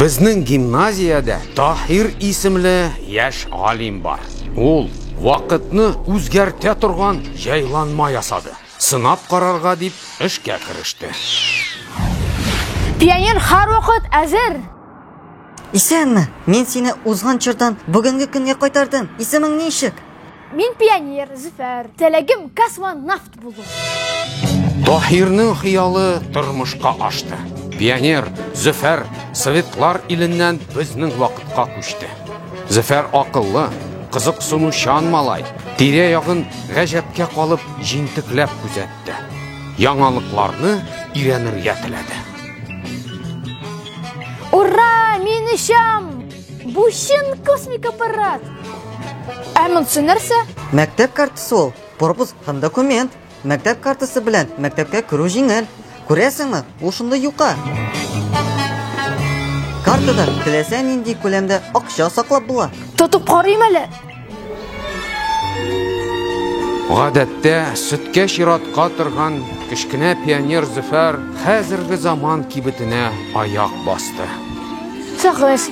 Безнең гимназиядә Таһир исемле яшь галим бар. Ул вакытны үзгәртә торган җайланма ясады. Сынап карарга дип эшкә кереште. Пионер һәрвакыт әзер! Исәнме? Мин сине узган чордан бүгенге көнгә кайтардым. Исемең ничек? Мин пионер, Зөфәр. Теләгем космонавт. Таһирның хыялы тормышка ашты. Пионер Зөфәр Советлар иленнән безнең вакытка күчте. Зөфәр акыллы, кызыксынучан малай, тирә-ягын гаҗәпкә калып җентекләп күзәтте. Яңалыкларны өйрәнергә теләде. Ура, мин ишам! Бу чын космик аппарат! Ә монсы нәрсә? Мәктәп картасы ул. Пропуск һәм документ, мәктәп картасы белән мәктәпкә керү җиңел. Күрәсеңме, ул шундый юка. Картада теләсә нинди күләмдә акча саклап була. Тотып карыйм әле. Гадәттә, сөткә чиратка торган кечкенә пионер Зөфәр хәзерге заман кибетенә аяк басты. Сагыз.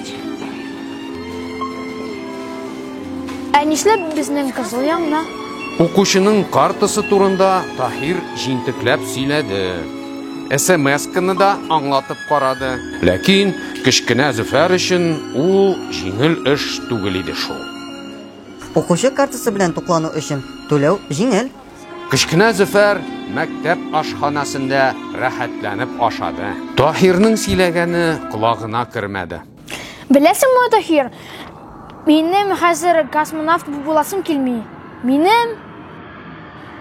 Ә нишләп безнең кызыл яңна? Укучының картасы турында Таһир җинтекләп сөйләде. СМС-каны да аңлатып карады. Ләкин кечкенә Зөфәр өчен ул җиңел эш түгел иде шул. Укучы картасы белән туклану өчен түләү җиңел. Кечкенә Зөфәр мәктәп ашханәсендә рәхәтләнеп ашады. Таһирның сөйләгәне колагына кермәде. Беләсеңме, Таһир, минем хәзер космонавт буласым килми. Минем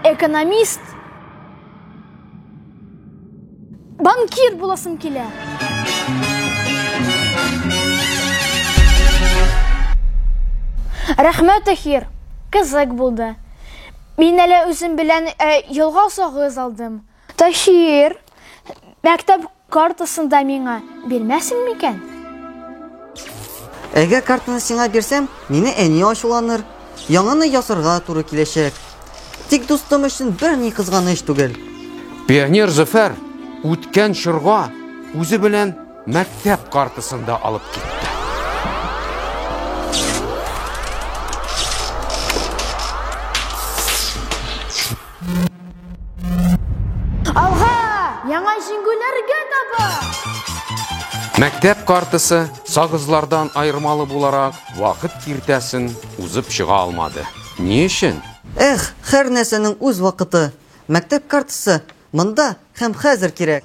экономист банкир буласым килә. Рәхмәт, Таһир. Кызык булды. Мин әле үзем белән э, ялгау сагыз алдым. Таһир, мәктәп картасын да миңа бирмәсең микән? Әгәр картаны сиңа бирсәм, мине әни ачуланыр. Яңаны ясарга туры киләчәк. Тик дустым өчен бер ни кызганыч түгел. Пионер Зөфәр үткән чорга үзе белән мәктәп картасын да алып китте. Алга! Яңа җиңгүләргә таба! Мәктәп картасы сагызлардан айырмалы буларак вакыт киртәсен узып чыга алмады. Ни өчен? Эх, хәр нәрсәнең үз вакыты. Мәктәп картасы монда һәм хәзер кирәк.